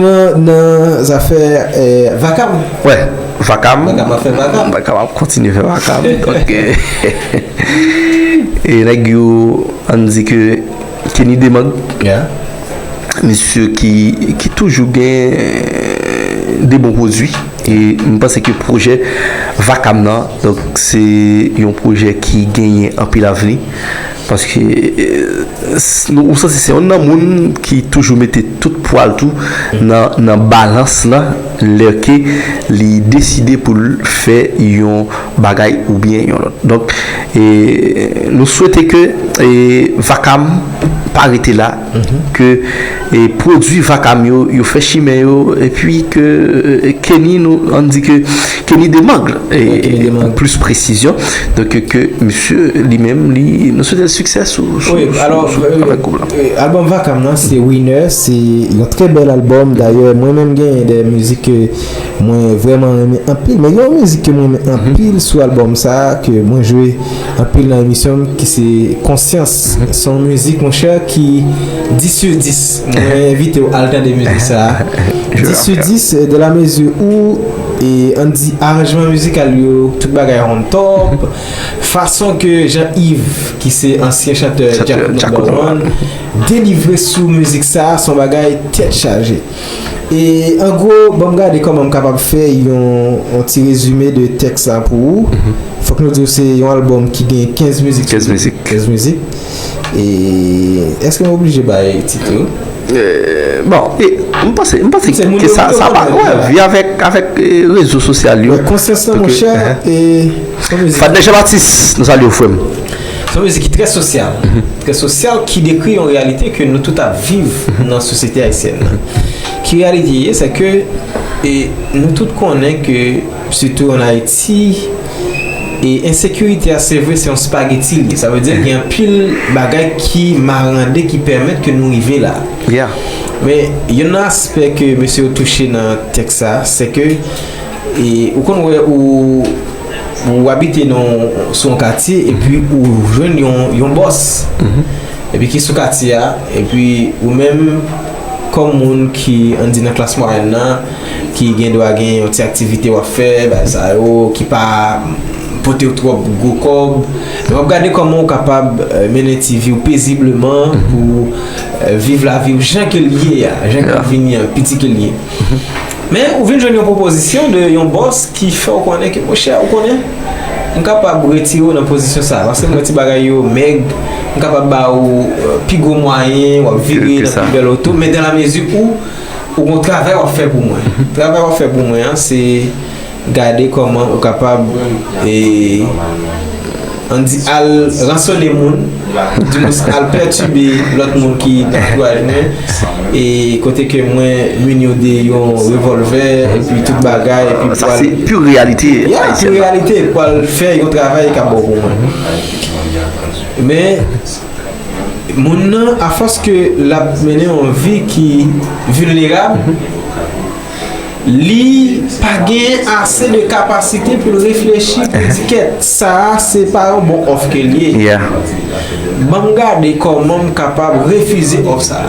Nan zafè vakam. Wè vakam. Vakam ap fè vakam. Vakam ap kontinye fè vakam. Donk e nèg yo ann di ke Kenny Demang. Ya. Mesye ki toujou gen de bon pwodui. E m panse ke pwojè vakam nan donk se yon pwojè ki genyen anpil avni. Paske ou santi se yon nan moun ki toujou mete tout pwa l tou nan balans la lè ke li deside pou l fè yon bagay oubyen yon lòt. Donk nou swete ke Vakam pa rete la. Ke pwodwi vakam yo, yo fè chimen yo, epi ke Kenny nou, ann di ke Kenny Demangle, pou plis presizyon, donk ke misye li menm li, nou swete l siksè sou travay koup la. Albòm vakam nan se Winner, se yon trè bèl albòm, dayè mwen menm genyen de mizik ke mwen vrèman renmen anpil, men gen yon mizik ke mwen renmen anpil sou albòm sa, ke mwen jwe anpil nan emisyon m, ki se Konsyans. Son mizik monchè ki 10 sur 10 Mwen envitew al tande mizik sa 10 sur 10 de la mezi ou e an di aranjman mizikal yo tout bagay on top Fason ke Jean Yves ki se ansyen chantè Djakout number one delivre sou mizik sa son bagay tèt chaje. E an gwo, ban m gade kòman m kapab fè yon ti rezime de tèks la pou ou. Fòk nou di w se yon albòm ki gen 15 mizik sou li. 15 mizik. 15 mizik. E èske m oblije bay tit yo? Bon, m panse, m panse ke sa pa grèv. Vi avèk, avèk rezo sosyal yo. Konsyans lan monchè e. Fadè Janbatis, nou salye w frè m. Se yon mizik ki trè sosyal, trè sosyal ki dekri yon reyalite ke nou tout ap viv nan sosyete ayisyèn nan. Ki reyalite ye, se ke e nou tout konnen ke sitou an Ayiti e ensekirite a se vre se yon spageti li ye. Sa vle di gen anpil bagay ki marande ki pèmèt ke nou rive la. Men, youn nan aspè ke mesye yo touche nan tèks sa, se ke E ou konn wè ou ou abite nan sou yon katye epi ou jwenn yon yon bòs epi ki sou katye a epi ou menm kòm moun ki an di nan klas mwayèn nan ki gen dwa gen yon ti aktivite w ap fè bagay sa yo ki pa pote w twòp gwo kòb men w ap gade kòman ou kapab mennen ti vi w pezibleman pou viv lavi w jan ke l ye a jan ke l vini an piti ke l ye. Men ou vin jwenn yon pwopozisyon de yon bòs ki fè w konnen ke monchè ou konnen m kapab retire w nan pozisyon sa a paske m wè ti bagay yo mèg, m kapab ba ou pi gwo mwayen, w ap vire nan pi bèl oto men dan la mezi ou ou gon travay w ap fè pou mwen. Travay w ap fè pou mwen an se. Gade kòman ou kapab e an di al ransone moun ou di mouns al pètibe lòt moun ki nan antouaj mwen e kote ke mwen mini yo de yon revòlvè epi tout bagay epi pou al ya pure reyalite pou al fè yon travay kap bon pou mwen men moun nan afòs ke lap mennen yon vi ki vilnerab Li pa gen ase de kapasite pou l reflechi pou di kèt sa a se pa yon bon òf ke l ye. Ban m gade kòman m kapab refize òf sa a.